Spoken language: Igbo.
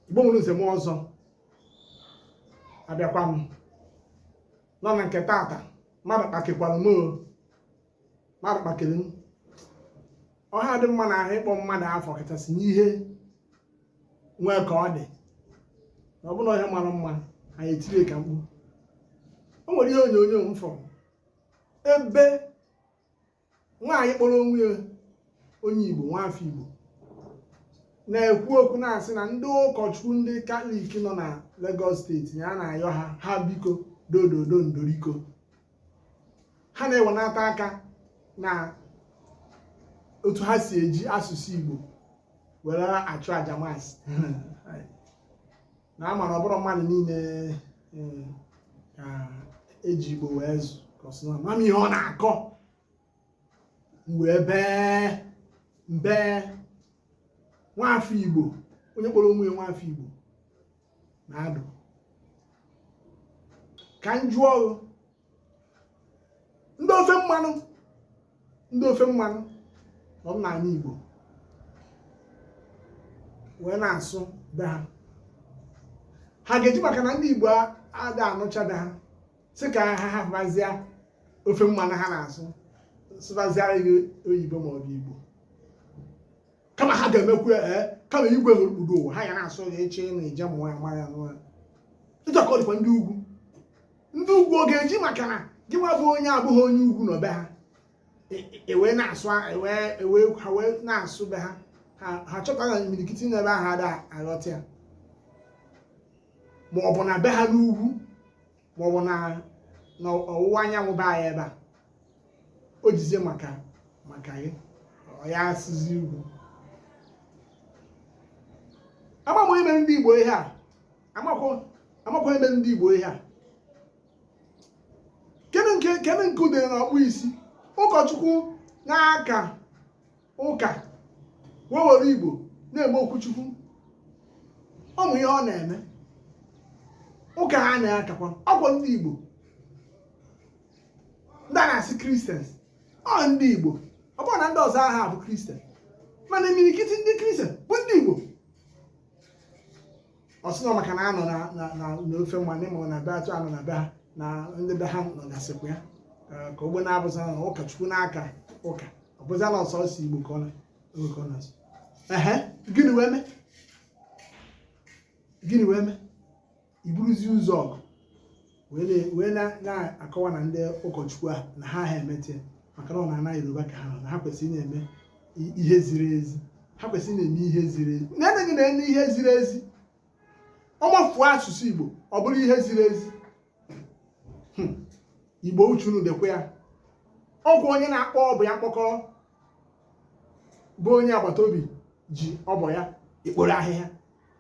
igbo nwere nze m ọzọ abịakwa m nọ na nke tata mmadụ kpakekwara m mmadụ kpakere m ọha dị mma na ahụ ịkpọ mmadụ afọ kachasị n'ihe nwee ka ọ dị na ọ bụ ihe mara mma anyị etiri ka mkpu o nwere ihe onyonyo m fụrụ ebe nwaanyị kpọrọ onwe ya onye Igbo nwaafọ Igbo na-ekwu okwu na-asị na ndị ụkọchukwu ndị katọlik nọ na Lagos steeti ya na-ayọ ha ha biko dododo ndoriko ha na-ewenata aka na otu ha si eji asụsụ Igbo were achụ aja na ama na ọ bụrọ mmadụ niile eh, ka e ji igbo wee zụọ kọsị na mama ihe ọ na-akọ wee bee mbee nwafọ igbo onye kpọrọ onwe ya nwafọ igbo na adụ ka m jụọ ndị ofe mmanụ ndị ofe mmanụ nọ n'ala Igbo wee na-asụ be ha ha ga-eji maka na ndị Igbo ada anụcha be ha sị ka ha hafụzie ofe mmanụ ha na-asụ sụbaziara gị oyibo ma ọ bụ Igbo kama ha ga-emekwu ya ee eh, kama igwe hụrụ kpudo ụwa ha ya na-asụ ya eche na ije mụọ ya mara ya n'ụra ịjọ ka ọ dịkwa ndị ugwu ndị ugwu ọ ga-eji maka na gị nwa bụ onye abụghị onye ugwu nọ be ha ewee e na-asụ ewee ha wee na-asụ be ha ha chọta na imirikiti n'ebe ahụ ada aghọta ya ma ọ bụ na be ha n'ugwu ma ọ bụ na n'ọwụwa anyanwụ be anyị ebe a o jizie maka maka gị ọ ya asụzi ugwu ama m onye mere ndị Igbo ihe a amakwa onye mere ndị Igbo ihe a kene nke kene nke o mere na ọkpụ isi ụkọchukwu na-aka ụka wee were Igbo na-eme okwuchukwu ọ mụ ihe ọ na-eme ụka ha na-akakwa ọ kwa ndị Igbo ndị a na-asị kristians ọ ndị Igbo ọ bụrọ na ndị ọzọ aha abụ kristian mana imirikiti ndị kristian bụ ndị Igbo ọ sị na ọ maka na anọ na- na- na- n'ofe mmanụ ịma na be atụ anọ na be ha na ndị be ha nọgasịkwa ya Ee, ka ogbe na-abụza na ụkọchukwu na-aka ụka ọ bụza na ọ sọsọ igbo ka ọ na Igbo ka ọ na-asụ ehe gịnị wee mee gịnị wee mee i buruzi ụzọ ọgụ wee na-akọwa na ndị ụkọchukwu a na ha ha emete maka na ọ n'ana yoruba ka ha nọ na ha kwesịrị na-eme ihe ziri ezi ha kwesịrị na-eme ihe ziri ezi na-eme gịnị na-eme ihe ziri ezi ọ mafuo asụsụ igbo ọ bụrụ ihe ziri ezi hmm. igbo uche unu dịkwa ya ọ bụ onye na-akpọ ọba ya mkpọkọrọ bụ onye agbata obi ji ọba ya ekporo ahịhịa